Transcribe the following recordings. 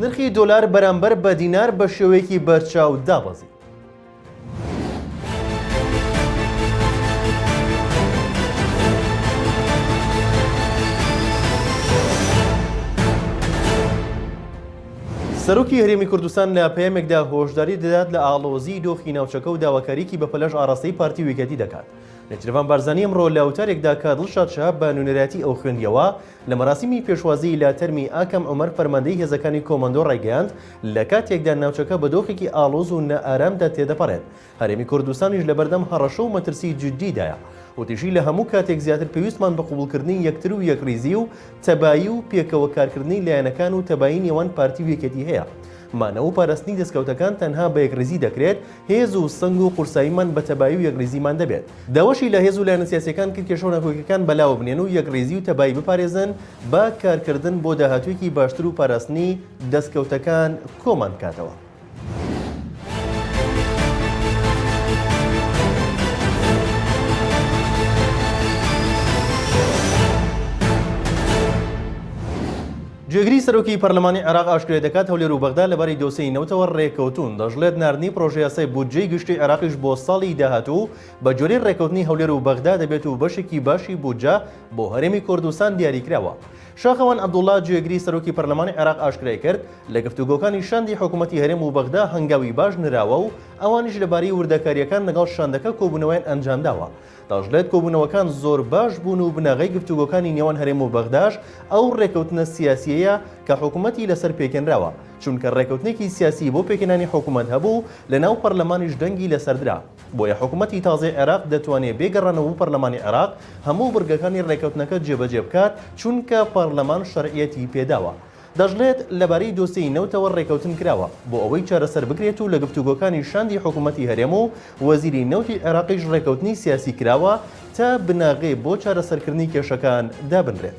نرخی دۆلار بەرامبەر بە دینار بە شێوەیەکی بەرچاو دابەزی. سەرۆکی هەرێمی کوردستان لە پەیامێکدا هۆشداری دەدات لە ئاڵۆزی دۆخی ناوچەکە و داواکاریکی بە پەلەش ئاراستەی پارتی ویکەتی دەکات نەجرەبان بارزانانی ئەمڕۆ لە وتارێکدا کە دڵشاد شەهاب بە نوێنەرایەتی ئەو خوێندیەوە لە مەراسیمی پێشوازیی لە تەرمی ئاکەم عومەر فەرماندەی هێزەکانی کۆماندۆ ڕایگەیاند، لە کاتێکدا ناوچەکە بە دۆخێکی ئاڵۆز و نائارامدا تێدەپەڕێت، هەرێمی کوردستانیش لەبەردەم هەڕەشە و مەترسیی جیددیدایە. وتیشی، لە هەموو کاتێک زیاتر پێویستمان بە قبوڵکردنی یەکتر و یەکڕیزی و تەبایی و پێکەوە کارکردنی لایەنەکان و تەبایی نێوان پارتی و یەکێتی هەیە. مانەوە و پاراستنی دەستکەوتەکان تەنها بە یەکڕیزی دەکرێت، هێز و سنگ و قورساییمان بە تەبایی و یەکڕیزیمان دەبێت. داواشی لە هێز و لایەنە سیاسییەکان کرد کێشە و ناکۆکییەکان بەلاوە بنێن و یەکڕیزی و تەبایی بپارێزن با کارکردن بۆ داهاتوویەکی باشتر و پاراستنی دەستکەوتەکان کۆمان بکاتەوە. جێگری سەرۆکی پەرلەمانی عێراق ئاشکرای دەکات، هەولێر و بەغدا لەبارەی دۆسێی نەوتەوە رێککەوتوون، دەشڵێت ناردنی پڕۆژەیاسای بودجەی گشتیی عێراقیش بۆ ساڵی داهاتوو بە گوێرەی رێککەوتنی هەولێر و بەغدا دەبێت و بەشێکی باشی بودجە بۆ هەرێمی کوردستان دیاریکراوە. شاخەوان عەبدوڵڵا، جێگری سەرۆکی پەرلەمانی عێراق ئاشکرایکرد، لە گفتوگۆکانی شاندی حکوومەتی هەرێم و بەغدا هەنگاوی باش نراوە و ئەوانیش لەبارەی وردەکارییەکان لەگەڵ شاندەکە کۆبوونەوەیان ئەنجامداوە، دەشڵێت کۆبوونەوەکان زۆر باش بوون و بناغەی گفتوگۆکانی نێوان هەرێم و بەغداش ئەو ڕێکەوتنە سیاسیەیە کە حکومەتی لەسەر پێکێنراوە، چونکە ڕێکەوتنێکی سیاسی بۆ پێکهێنانی حکومەت هەبوو و لەناو پەرلەمانیش دەنگی لەسەر درا، بۆیە حکومەتی تازەی عێراق دەتوانێت بێ گەڕانەوە پەرلەمانی عێراق هەموو بڕگەکانی ڕێکەوتنەکە جێبەجێ بکات، چونکە پەرلەمان شەرعیەتی پێداوە. دەشڵێت، لەبارەی دۆسێی نەوتەوە رێکەوتن کراوە، بۆ ئەوەی چارەسەر بکرێت و لە گفتوگۆکانی شاندی حکوومەتی هەرێم و وەزیری نەوتی عێراقیش رێکەوتنی سیاسی کراوە تا بناغەی بۆ چارەسەرکردنی کێشەکان دابنرێت.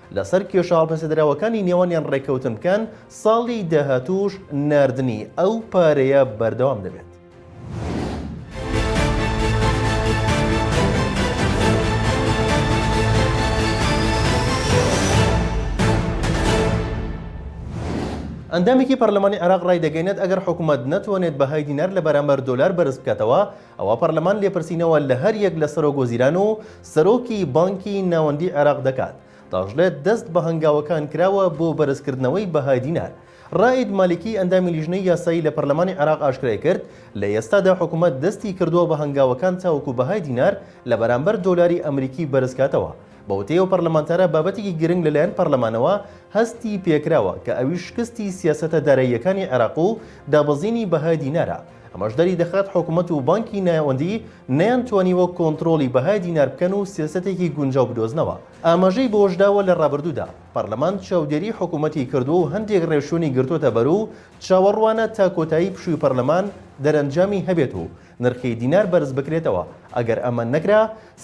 لەسەر کێشە هەڵپەسێردراوەکانی نێوانیان ڕێککەوتن بکەن، ساڵی داهاتووش ناردنی ئەو پارەیە بەردەوام دەبێت. ئەندامێکی پەرلەمانی عێراق ڕایدەگەیەنێت، ئەگەر حکومەت نەتوانێت بەهای دینار لەبەرامبەر دۆلار بەرزبکاتەوە، ئەوا پەرلەمان لێپرسینەوە لە هەر یەک لە سەرۆک وەزیران و سەرۆکی بانکی ناوەندی عێراق دەکات دەشڵێت دەست بە هەنگاوەکان کراوە بۆ بەرزکردنەوەی بەهای دینار. رائید مالیکی ئەندامی لیژنەی یاسایی لە پەرلەمانی عێراق ئاشکرایکرد، لە ئێستادا حکومەت دەستی کردووە بە هەنگاوەکان تاوەکو بەهای دینار لە بەرامبەر دۆلاری ئەمریکی بەرزکاتەوە. بەوتەی ئەو پەرلەمانتارە بابەتێکی گرنگ لەلایەن پەرلەمانەوە هەستی پێکراوە کە ئەویش شکستی سیاسەتە داراییەکانی عێراق و دابەزینی بەهای دینارە. ئەمەش دەریدەخات حکومەت و بانکی ناوەندی نەیانتوانیوە کۆنتڕۆڵی بەهای دینار بکەن و سیاسەتێکی گونجاو بدۆزنەوە. ئاماژەی بەوەشداوە لە ڕابردوودا پەرلەمان چاودێری حکومەتی کردووە و هەندێک ڕێوشوێنی گرتۆتە بەر و چاوەڕوانە تا کۆتایی پشووی پەرلەمان دەرەنجامی هەبێت و نرخی دینار بەرزبکرێتەوە ئەگەر ئەمە نەکرا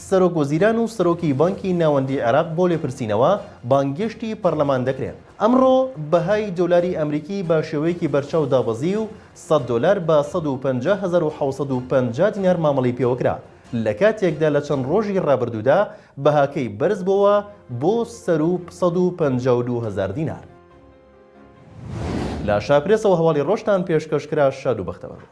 سەرۆک وەزیران و سەرۆکی بانکی ناوەندی عێراق بۆ لێپرسینەوە بانگێشتی پەرلەمان دەکرێن. ئەمڕۆ بەهای دۆلاری ئەمریکی بە شێوەیەکی بەرچاو دابەزی و سەد دۆلار بە سەد و پەنجا هەزار و حەوت سەد و پەنجا دینار مامەڵەی پێوەکرا، لە کاتێکدا لە چەند ڕۆژی ڕابردوودا بەهاکەی بەرزبووەوە بۆ سەروو سەد و پەنجا و دوو هەزار دینار. لە شاپرێسەوە هەواڵی ڕۆژتان پێشکەشکرا شاد و بەختەوەربن.